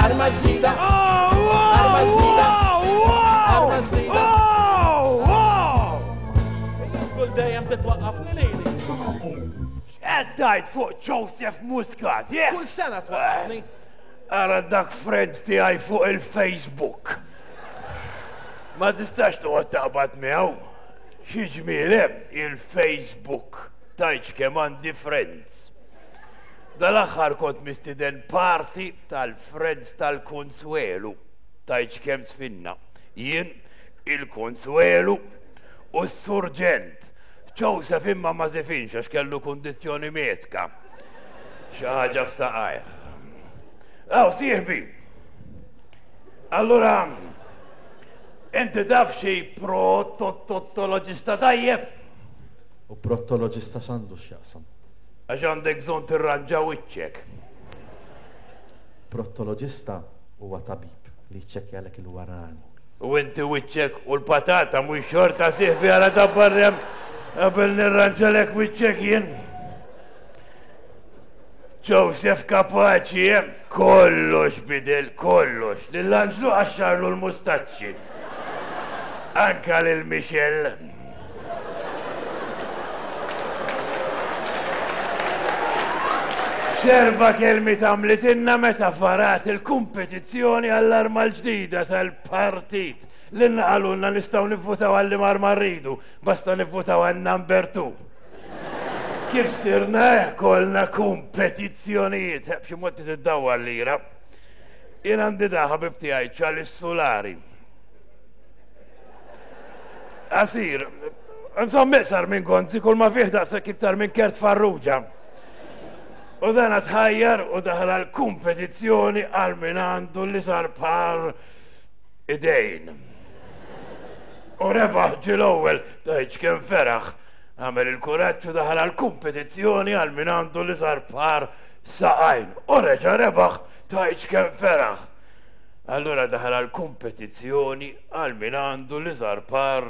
Arma ġdida! Arma ġdida! Arma ġdida! Kull dejjem titwaqqafni lili. Qed tajt fuq Joseph Muscat, jek? Kull sena twaqqafni. Ara dak friend tiegħi fuq il-Facebook. Ma tistax toqgħod taqbad miegħu. Xi ġmielem il-Facebook tajċ kemm għandi friends. Dal-aħħar kont mistieden party tal-Friends tal-Kunsuelu. Tgħidx kemm żfinna, jien, il-Kunsuelu u s-Surġent. Joseph imma ma żifinx għax kellu kundizzjoni medka, xi ħaġa f'saqajh. Aw, sieħbi! Allura, inti taf xi protottoloġista tajjeb? U prottoloġista x'għandu x'jaqsam? Għax għandek bżonn tirranġa wiċċek. Prottoloġista huwa tabib li jċċekkjalek il-warani. U inti wiċċek u l-patata mhux xorta sieħbi għala tabbarrem qabel nirranġalek wiċċek jien. Joseph Kapaċi, eh? kollox bidel, kollox. Lill-anġlu għaxxarlu l-mustaċċi. Anka lil Michelle. Serva kelmi tamlitinna meta farat il-kompetizzjoni għall-arma l-ġdida tal-partit. L-inqalunna nistaw nivvutaw għalli mar marridu, basta nivvutaw għal number 2. Kif sirna kolna kompetizzjonijiet, b'xi mod tiddawa l-lira. Jien għandi daħab ibtijaj ċalis solari. Asir, nżomm iqsar minn gonzi kull ma fih daqshekk iktar minn kert farruġa. U dan tħajjar u daħal għal kompetizzjoni għal min għandu li sar par idejn. U rebaħ ġil ewwel tajċ kem feraħ għamel il-kuraġġ u daħal għal kompetizzjoni għal min għandu li sar par saqajn. U reġa' rebaħ tajċ kem feraħ. Allura daħal għal kompetizzjoni għal min għandu l-iżgħar par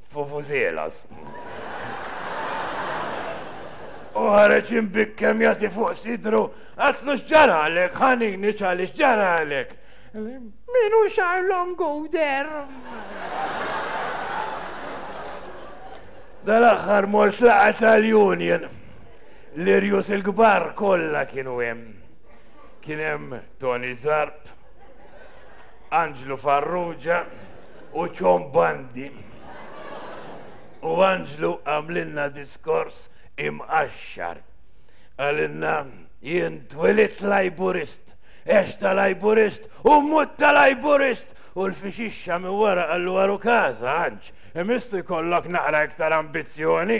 fufużelas. U ħareġ imbikkem jagħti fuq sidru, għatlu x'ġaralek, ħanini ċali x'ġaralek. Minu xar longu der. Dal-aħħar mort laqgħet tal-union. L-irjus il-kbar kollha kienu hemm. Kien hemm Toni Zarb, Anġlu Farrugia u Ċon Bandi. U Anġlu għamlilna diskors imqaxxar. Qalilna jien twilidt Lajburist, għext ta' Lajburist u mmut ta' Lajburist! U l-fixixxa minn wara qallu aru każa, Anġ, imissu jkollok naqra iktar ambizzjoni!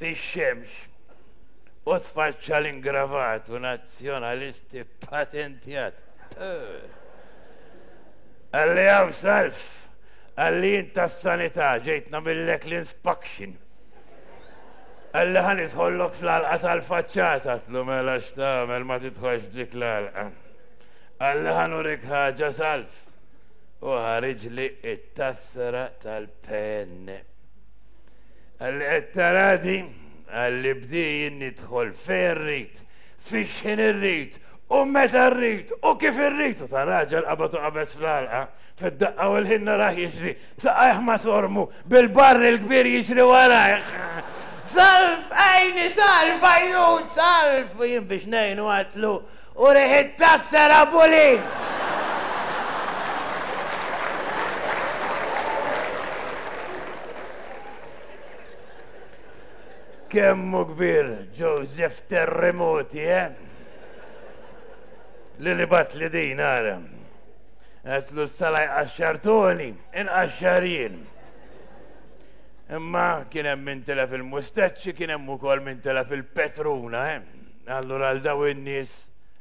fix-xemx u tfaċċa l-ingravatu Nazzjonalisti ppatentjat Għalli hawn salv, Għalli int tas-Sanità ġejt nagħmillek l-inspection, Għalli ħa nidħollok fl-għalqa tal-faċċata Għatlu mela x'tagħmel ma tidħolx f'dik l-għalqa, Għalli ħa nurik ħaġa salv, u ħariġli t-tassra tal-PN. Għalli qed tarani, għalli bdejn nidħol fejn rrid, fix-xħin irrid, u meta rrid, u kif irrid, u ta' raġel qabad u qabeż fl-għalqa, fid-daqqa u l-ħin narah jiġri, b'saqajh masormu, bil-barrel kbir jiġri warajh. Salv, għajni, salv, għajnut, salv! U jien biex ngħinu għatlu, U riħit tassar Abu Lin! Kemm hu kbir Joseph Terremoti, eh? Li li bat li din ara. Għetlu s-sala jqaxxartoni, inqaxxar jien. Imma kien hemm min tela fil-mustaċċi, kien hemm ukoll min tela fil-petruna, eh? Allura għal daw in-nies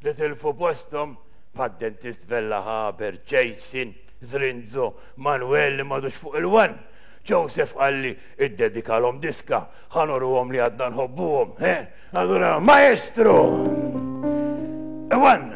li tilfu posthom bħad-dentist Vella Haber, Jason, Zrinzo, Manwel li m'għadux fuq il-wan, Joseph Qalli iddedikalhom diska, ħa nurruhom li għadna nħobbuhom, he? Allura Maestro! One!